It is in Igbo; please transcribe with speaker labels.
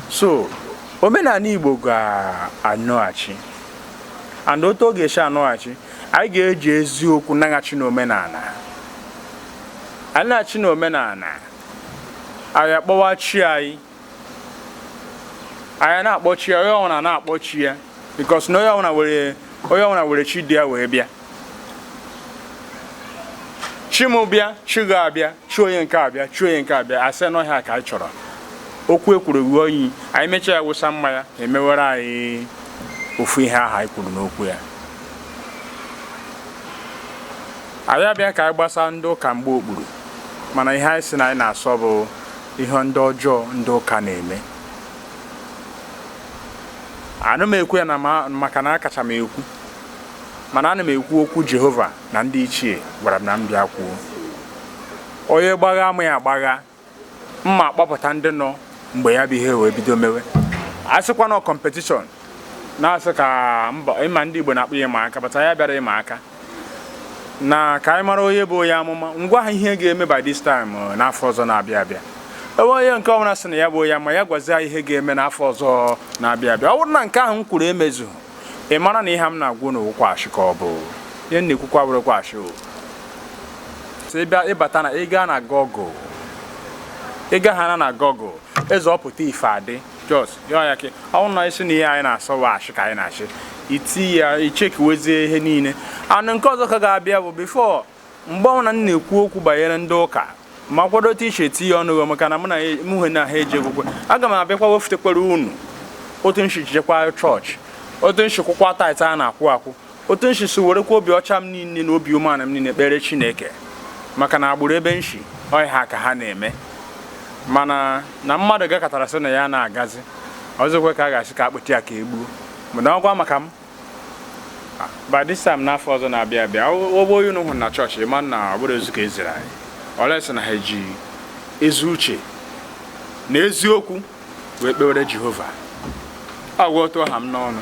Speaker 1: so omenala igbo ga-anọghachi and otu ọ ga-esi anọghachi anyị ga-eji eziokwu naghachi n'omenala anyị naghachi n'omenala anyị akpọwa chi anyị anyị na-akpọ chi ya onye ọbụla na-akpọ chi ya because na onye ọbụla were onye ọbụla were chi du ya wee bịa chi m bịa chi gị abịa chi onye nke a abịa chi onye nke a abịa a sị na ọ ihe a ka anyị chọrọ okwu e kwuru ruo oyi anyị mechaa ya wụsa mmanya emewere anyị ofu ihe ahụ anyị kwuru n'okwu ya anyị abịa ka anyị gbasa ndị ụka mgba okpuru mana ihe anyị si na anyị na-asọ bụ ihe ndị ọjọọ ndị ụka na-eme ana m ekwu ya maka na akacha m ekwu mana ana m ekwu okwu Jehova na ndị ichie gwara m na m bịa kwuo onye gbagha m ya agbagha m akpọpụta ndị nọ mgbe ya bụ ihe wee bido mewe a sịkwa na competition na a sị ka mba ịma ndị Igbo na-akpọ ya ịma aka bata ya bịara ịma aka na ka anyị mara onye bụ onye amụma m gwa ha ihe ga-eme by this time uh, n'afọ ọzọ na-abịa abịa ebe onye nke ọbụla sị na ya bụ onye amụma ya gwazie ihe ga-eme n'afọ ọzọ na-abịa abịa ọ bụrụ na nke ahụ m kwuru emezu ị mara na ihe m na-agwa unu wụkwa ashị ka ọ bụ ihe m na-ekwukwa wụrụkwa ashị o so ị bịa ịbata na ị gaa na Google ị gaghị ana na Google eze ọpụta ife adị jos yọọ ya ke ọnwụ na ị sị na ihe anyị na-asọ wụ ashị ka anyị na-achị iti ya ichekiwezie ihe niile and nke ọzọ ka ga-abịa bụ before mgbe ọbụla m na-ekwu okwu banyere ndị ụka m akwado otu iche eti ya ọnụ maka na mụ na mụhe na ha eji ekwukwe aga m abịakwa wefụtakwara unu otu m shi jekwa chọọchị otu m shi kwụkwa tithe a na-akwụ akwụ otu m shi werekwa obi ọcha m niile na obi umeala m niile kpere chineke maka na agbụrụ ebe m shi ọ ihe a ka ha na-eme mana na mmadụ gakatara sị na ya na-agazi ọzọkwa ka a ga-asị ka a kpụti ya ka e gbuo mana ọgwa maka m by this time n'afọ ọzọ na-abịa abịa ụgbọ onye unu hụrụ na chọọchị ị ma na ọ bụrụ ezu ka e ziri anyị unless na ha eji ezi uche na eziokwu wee kpewere jehova agwa otu ọ ha m n'ọnụ